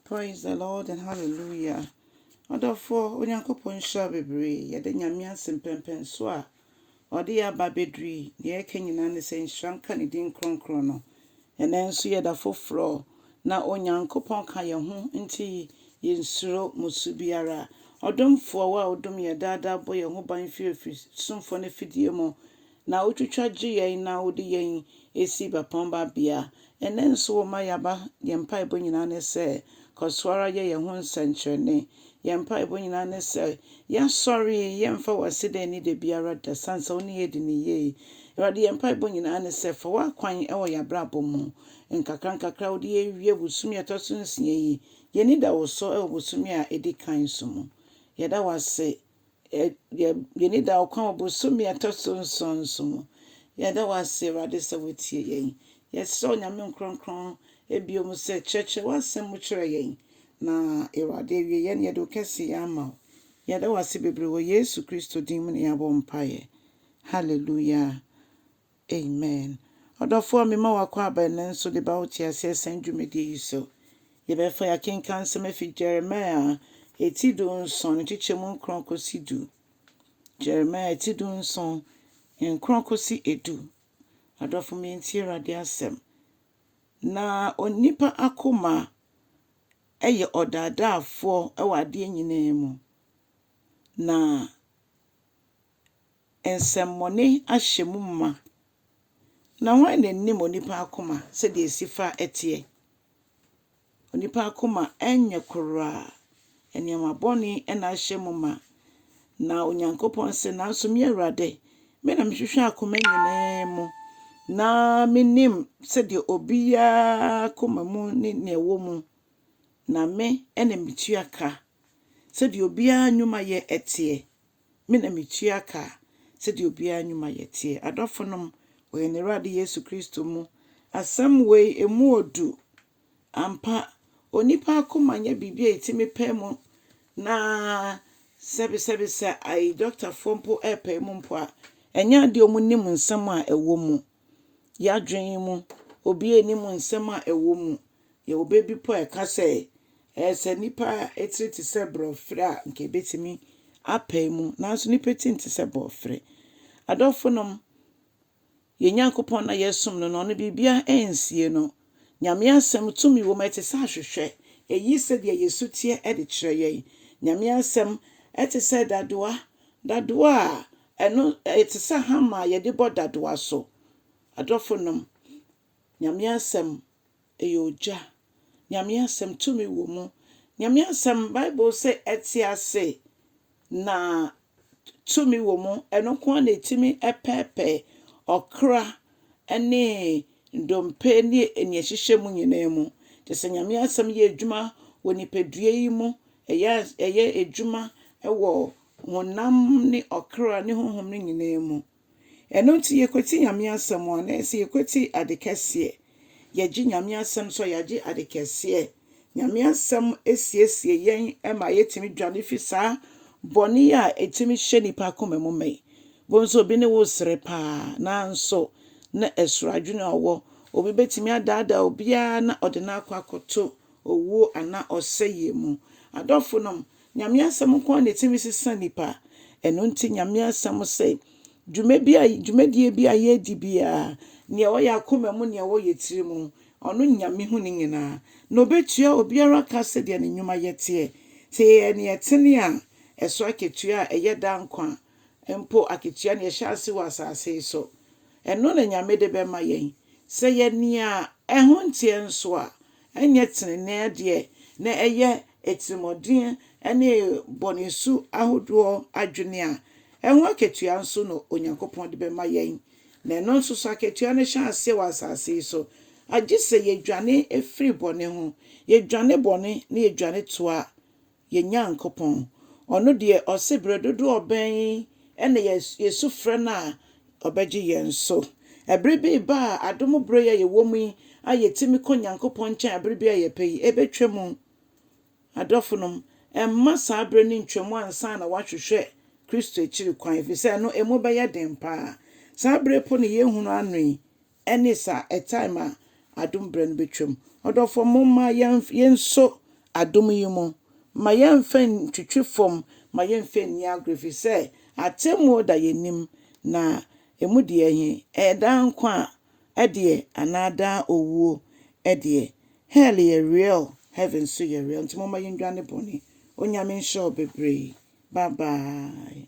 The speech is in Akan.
Praise the Lord and hallelujah. Adɔfoɔ, Onyankopɔn nhyira bebree. Yɛda Nyame ase mpɛmpɛn so a ɔde yɛn aba abɛduru yi. Nea yɛka nyinaa ne sɛ nhyira nka ne din kronkron no. Ɛnɛ nso yɛ da foforɔ na Onyankopɔn ka yɛn ho nti yɛnsuro musu biara. Ɔdomfoɔ wo a wodom yɛn daadaa bɔ yɛn ho ban firi ɔfisumfoɔ no afidie mu na wotwitwa gye yɛn na wode yɛn si bapɔmma bea. Ɛnnɛ nso woma yɛaba, yɛn mpaebɔ nyinaa ne sɛ, kɔ so ara yɛ yɛn ho nsɛnkyerɛnne. Yɛn mpaebɔ nyinaa ne sɛ, yɛasɔre, yɛmfa w'aseda nni da biara da, sane sɛ wo ne yɛn adi no yie. Awurade, yɛn mpaebɔ nyinaa ne sɛ, fa w'akwan wɔ yɛn abrabɔ mu. Nkakrankakra a wode yɛn awie bosome a ɛtɔ so nsia yi, yɛn ani da wo so wɔ bosome a ɛdi kan so mu. Yɛda wo ase Yɛ yɛ yɛn ani da wo kwan wɔ bosome a ɛtɔ so nson nso mu. Yɛda wo ase, Awurade, sɛ wotie yɛn. Yɛsrɛ wo, Nyame Nkorɔnkorɔn, bio mu sɛ, kyerɛkyerɛ w'asɛm mu kyerɛ yɛn, na, Awurade, awieɛ no yɛde wo kɛseyɛ ama wo. Yɛda wo ase bebree wɔ Yesu Kristo din mu na yɛabɔ mpaeɛ. Hallelujah. Amen ɔdɔfoɔ a mema wo akwaaba ɛnnɛ nso de ba wo te aseɛ sɛn dwumadie yi so. Yɛbɛfa yɛakenkan nsɛm afi Jeremiah ti du nson nkyekyɛmu nkron kɔsi du. Jeremiah ti du nson nkron kɔsi edu. Adɔfo me ntie Awurade asɛm. Na onipa akoma yɛ ɔdaadaafoɔ wɔ adeɛ nyinaa mu. Na nsɛmmɔne ahyɛ mu ma, na hwan na nim onipa akoma sɛdeɛ ɛsi fa teɛ? Onipa akoma nyɛ koraa, nneɛma bɔne na ahyɛ mu ma. Na Onyankopɔn se, Nanso me Awurade, me na mehwehwɛ akoma nyinaa mu, na menim sɛdeɛ obiara koma mu ne nea ɛwɔ mu, na me na metua ka sɛdeɛ obiara nnwumayɛ teɛ. Me na metua ka sɛdeɛ obiara nnwuma yɛ teɛ. Adɔfonom, wɔ yɛn Awurade Yesu Kristo mu, asɛm wei, emu ɔdu. Ampa, onipa akoma nyɛ biribi a yɛtumi pae mu na sɛbesɛbe sɛ ayi dɔktafoɔ mpo repae mu mpo a, ɛnyɛ adeɛ a wɔnim nsɛm a ɛwɔ mu. Y'adwene mu, obiara nnim nsɛm a ɛwɔ mu. Yɛwɔ bɛ bi mpo a ɛka sɛ, Ɛɛ, sɛ nnipa tiri te sɛ borɔferɛ a, anka yɛbɛtumi apae mu. Nanso nnipa ti nte sɛ borɔferɛ. Adɔfonom, yɛn Nyankopɔn no a yɛsom no no, ɔno biribiara nsie no. Nyame Asɛm tumi wɔ mu, ɛte sɛ ahwehwɛ, ɛyi sɛdeɛ yɛn su teɛ de kyerɛ yɛn. Nyame Asɛm te sɛ dadoa, dadoa a ɛno ɛte sɛ hammer a yɛde bɔ dadoa so. Adɔfonom, Nyame Asɛm ɛyɛ ogya. Nyame Asɛm tumi wɔ mu. Nyame Asɛm, Bible se ɛte ase na tumi wɔ mu, ɛno nko ara na ɛtumi pɛɛpɛɛ ɔkra ne ndompe ne nea ɛhyehyɛ mu nyinaa mu. Nti sɛ Nyame asɛm yɛ adwuma wɔ nipadua yi mu, ɛyɛ ɛyɛ adwuma wɔ honam ne ɔkra ne honhom no nyinaa mu. Ɛno nti yɛkwati Nyame asɛm a, na ɛyɛ sɛ yɛkwati ade kɛseɛ. Yɛgye Nyame asɛm so a, yɛagye ade kɛseɛ. Nyame asɛm siesie yɛn ma yɛtumi dwane fi saa bɔne a ɛtumi hyɛ nipa akoma mu ma yi. Bohu sɛ obi ne wo resere paa nanso na ɛsoro adwene a ɔwɔ. Obi bɛtumi adaadaa obiara na ɔde no akɔ akɔto owuo anaa ɔsɛeɛ mu. Adɔfonom, Nyame asɛm nko ara na ɛtumi sesa nnipa. Ɛno nti Nyame asɛm se, dwumadie bi a yɛredi biara, nea ɛwɔ yɛn akoma mu, nea ɛwɔ yɛn tiri mu, ɔno Nyame hu ne nyinaa, na ɔbɛtua obiara ka sɛdeɛ ne nnwuma yɛ teɛ. Sɛ yɛyɛ nea ɛtene a, ɛso akatua a ɛyɛ daa nkwa mpo akatua na yɛhyɛ ase wɔ asase yi so. Ɛno na Nyame de bɛma yɛn. Sɛ yɛyɛ nea ɛho nteɛ nso a, Ɛnyɛ tenenee adeɛ na ɛyɛ atirimuɔden ne bɔne su ahodoɔ adwene a ɛho akatua nso na Onyankopɔn de bɛma yɛn, na ɛno nso so akatua no hyɛ aseɛ wɔ asase yi so, agye sɛ yɛdwane firi bɔne ho, yɛdwane bɔne na yɛdwane toa Yɛn Nyankopɔn, Ɔno deɛ Ɔse bere dodoɔ bɛn na yɛsu frɛ No a Ɔbɛgye yɛn so. Ɛbere bi reba a adom bere yi a yɛwɔ mu yi a yɛtumi kɔ Nyankopɔn nkyɛn a bere bi a yɛpɛ yi, ɛbɛtwa mu. Adɔfonom, ɛmma saa bere no ntwa mu ansa na woahwehwɛ Kristo akyiri kwan, ɛfiri sɛ ɛno emu bɛyɛ den paa. Saa bere po no yɛrehunu ano yi Ɛne saa, a time a adom berɛ no bɛtwam. Ɔdɔfoɔ momma yɛnso adom yi mu, ma yɛmfa ntwitwi fam, ma yɛmfa nni agorɔ ɛfiri sɛ atemmuo da yɛn anim na ɛmu deɛ he, ɛyɛ daa nkwa deɛ anaa daa owuo deɛ. Hell yɛ real, heaven nso yɛ real nti momma yɛndwane bɔne. Onyame nhyira wo bebree. Bye bye.